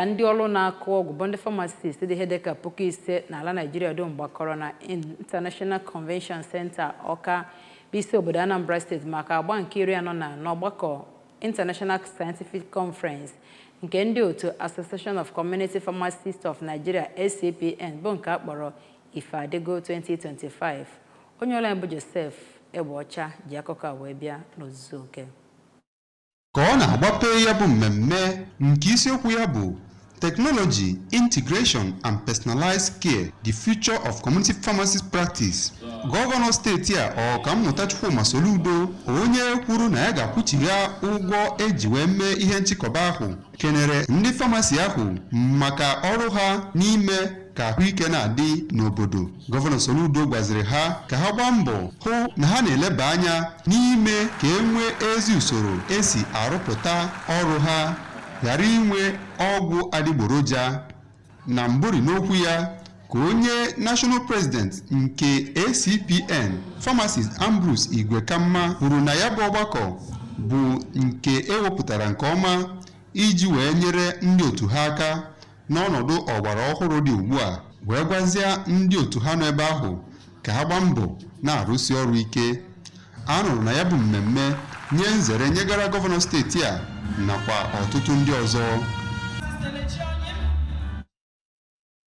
ka ndị ọrụ na-akụ ọgwụ bụ ndị pharmacist dị ihe dịka puku ise n'ala Naijiria dum gbakọrọ na International Convention Center Ọka bụ isi obodo Anambra steeti maka agba nke iri anọ na anọ ọgbakọ International Scientific Conference nke ndị otu Association of Community Pharmacists of Nigeria ACPN bụ nke a kpọrọ Ife Adịgo 2025 onye ọrụ anyị bụ Joseph Egbeọcha ji akụkọ a wee bịa n'ozuzu oke ka ọ na-agbape ya bụ mmemme nke isiokwu ya bụ Technology, Integration and Personalized Care, The Future of Community Pharmacist Practice. Gọvanọ steeti a Ọkammụta Chukwuma Soludo onye kwuru na ya ga-akwụchigha ụgwọ eji wee mee ihe nchịkọba ahụ kenere ndị famasi ahụ maka ọrụ ha n'ime ka ahụike na-adị n'obodo gọvanọ Soludo gwaziri ha ka ha gbaa mbọ hụ na ha na-eleba anya n'ime ka e nwee ezi usoro esi arụpụta ọrụ ha ghara inwe ọgwụ adịgboroja na mbụri n'okwu ya ka onye national president nke acpn pharmacist ambrose igwekamma kwuru na ya bụ ọgbakọ bụ nke ewepụtara nke ọma iji wee nyere ndị otu ha aka n'ọnọdụ ọgbara ọhụrụ dị ugbu a wee gwazie ndị otu ha nọ ebe ahụ ka ha gbaa mbọ na-arụsi ọrụ ike a nọrọ na ya bụ mmemme nye nzere nyegara gọvanọ steeti a nakwa ọtụtụ ndị ọzọ